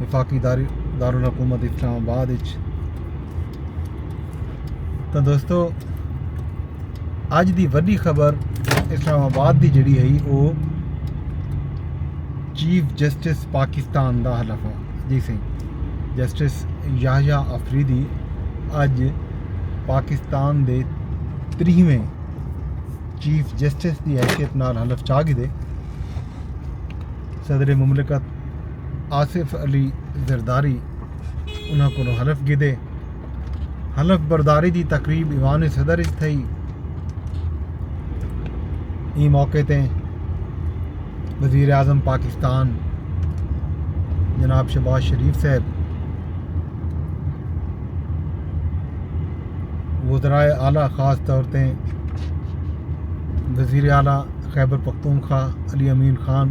وفاقی دارالحکومت اسلام آباد اچ تو دوستو اج دی وڈی خبر اسلام آباد دی جڑی ہے او چیف جسٹس پاکستان دا حلف ہے جی سی جسٹس یاہیا افریدی اج پاکستان دے تریہویں چیف جسٹس دی حیثیت نال حلف چاہ گئے صدر مملکت آصف علی زرداری انہاں کولوں حلف گھدے۔ حلف برداری دی تقریب ایوان صدر اچ تھئی۔ ایں موقع تے وزیر اعظم پاکستان جناب شہباز شریف صاحب، وزرائے اعلی خاص طور تے وزیر اعلی خیبر پختونخوا علی امین خان،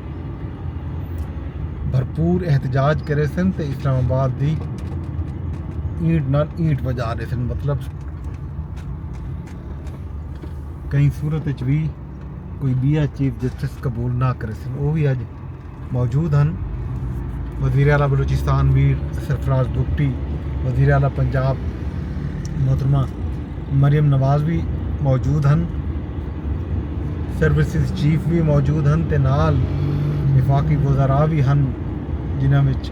بھرپور احتجاج کرے سن تے اسلام آباد دی اینٹ نال اینٹ وجا ڈے سن مطلب کئی صورت وچ وی کوئی بیا چیف جسٹس قبول نہ کرے سن وہ بھی اج موجود ہیں وزیر اعلیٰ بلوچستان میر سرفراز بگٹی وزیر اعلیٰ پنجاب محترمہ مریم نواز بھی موجود ہیں سروسز چیف وی موجود ہن تے نال وفاقی وزراء وی ہن جنہاں وچ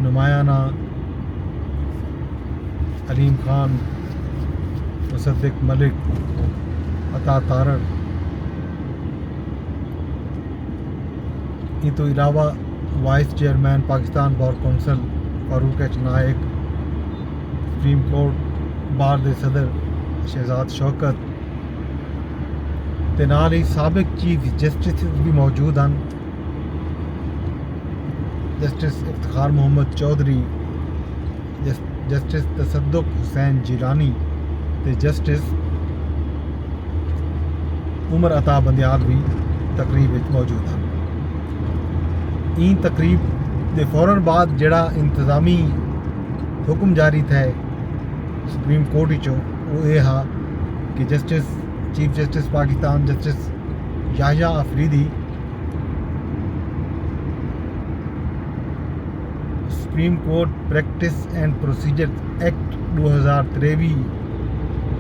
نمایاں علیم خان، مصدق ملک، عطا تارڑ ایں توں علاوہ vice chairman Pakistan bar council Farooq H Naek, supreme court bar دے صدر شہزاد شوکت تے نال ہی سابق چیف جسٹس وی موجود ہن جسٹس افتخار محمد چوہدری، جسٹس تصدق حسین جیلانی تے جسٹس عمر عطا بندیال وی تقریب اچ موجود ہن۔ ایں تقریب دے فورا بعد جیڑھا انتظامی حکم جاری تھئے سپریم کورٹ وچوں وہ یہ ہا کہ justice chief justice Pakistan justice Yahya Afridi supreme court practice and procedure act ڈو ہزار تریوی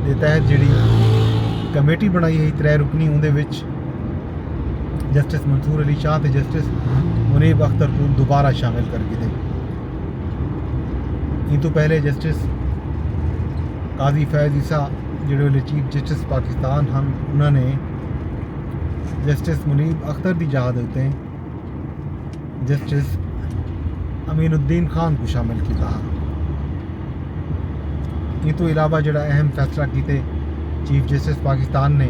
کے تحت جڑی کمیٹی بنائی ہوئی ترے رکنی اندر وچ جسٹس منصور علی شاہ تے جسٹس منیب اختر کو دوبارہ شامل کر کے دے ایں توں پہلے جسٹس قاضی فیض عیسی جڑے ویلے چیف جسٹس پاکستان ہن انہاں نے جسٹس منیب اختر دی جاہ دے اتے جسٹس امین الدین خان کو شامل کیتا ہا ایں توں علاوہ جڑا اہم فیصلہ کیتے چیف جسٹس پاکستان نے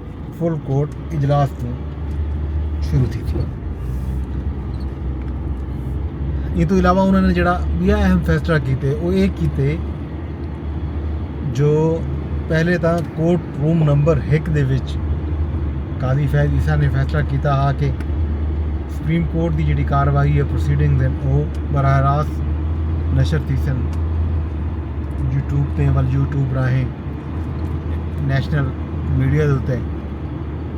فل کورٹ اجلاس توں شروع تھیسی۔ ایں توں علاوہ انہاں نے جیڑھا ٻیا اہم فیصلہ کیتے او اے کیتے جو پہلے تاں کورٹ روم نمبر ہک دے وچ قاضی فیض عیسی نے فیصلہ کیتا ہا کہ سپریم کورٹ دی جیڑھی کاروائی ہے پروسیڈنگز ہن او براہ راست نشر تھیسن یوٹیوب تے ول یوٹیوب راہیں نیشنل میڈیا دے اتے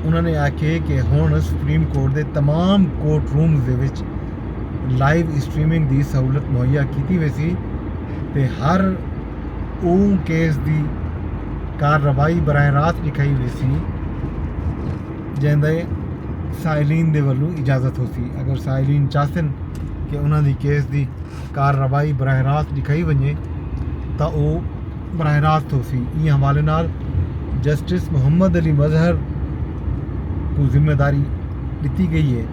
انہوں نے آکھے کہ ہن سپریم کورٹ دے تمام کورٹ رومز دے وچ لائیو اسٹریمنگ دی سہولت مہیا کیتی ویسی تے ہر او کیس دی کارروائی براہ راست ڈکھائی ویسی جیندے دے سائلین دے ولوں اجازت ہوسی اگر سائلین چاہسن کہ انہوں دی کیس دی کارروائی براہ راست ݙکھائی ونڄے تاں او براہ راست ہوسی۔ ایں حوالے نال جسٹس محمد علی مظہر کوں ذمہ داری ݙتی ڳئی اے۔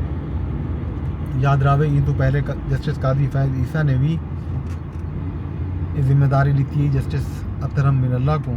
یاد رہوے ایں توں پہلے جسٹس قاضی فیض عیسی نے وی اے ذمہ داری ݙتی ہئی جسٹس اطہر من اللہ کوں۔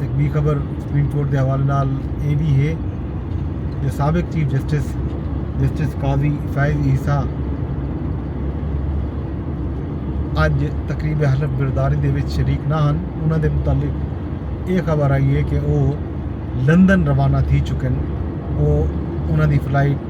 ہک ٻی خبر سپریم کورٹ دے حوالے نال اے وی ہے جو سابق chief justice justice Qazi Faez Isa اج تقریب حلف برداری دے وچ شریک نہ ہن انہاں دے متعلق اے خبر آئی ہے کہ او لندن روانہ تھی چکن او انہاں دی فلائٹ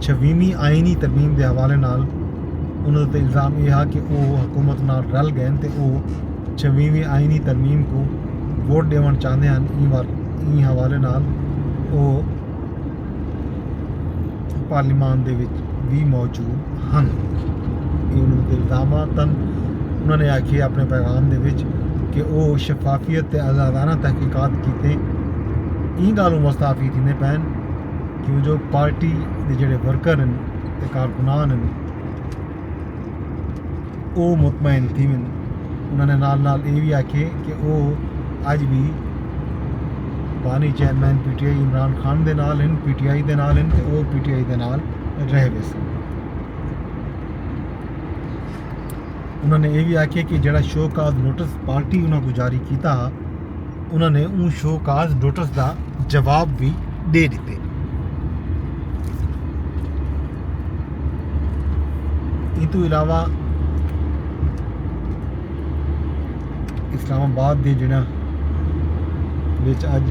چھویمی آئینی ترمیم دے حوالے نال انہاں تے الزام اے ہا کہ او حکومت نال رل گئن تے او چھویمی آئینی ترمیم کوں ووٹ ڈیونڑ چاہندے ہن ایں حوالے نال او پارلیمان دے وچ وی موجود ہن اے انہاں تے الزام ہا تن انہاں نے آکھیے اپنے پیغام دے وچ کہ او شفافیت تے آزادانہ تحقیقات کیتے ایں گالوں مستعفی تھیندے پین کیوں جو پارٹی دے جڑے ورکر ہیں تے کارکنان ہیں او مطمئن تھیون انہوں نے نال نال اے وی آکھے کہ او اج بھی بانی chairman P T I Imran Khan دے نال ہیں پی ٹی آئی دے نال ہیں تے او پی ٹی آئی دے نال رہ ویسے انہوں نے اے وی آکھے کہ جڑا شو کاز نوٹس پارٹی انہوں کو جاری کیتا ہا انہاں نے اوں شو کاز نوٹس دا جواب وی ݙے ݙتے۔ ایتوں علاوہ اسلام آباد دے جڑاں وچ اج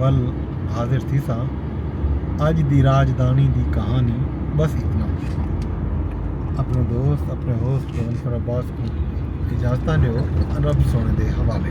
ول حاضر تھیساں اج دی راجدھانی دی کہانی بس اتنا اپنے دوست اپنے ہوسٹ پروفیسر عباس کو اجازتاں ڈیو رب سونے دے حوالے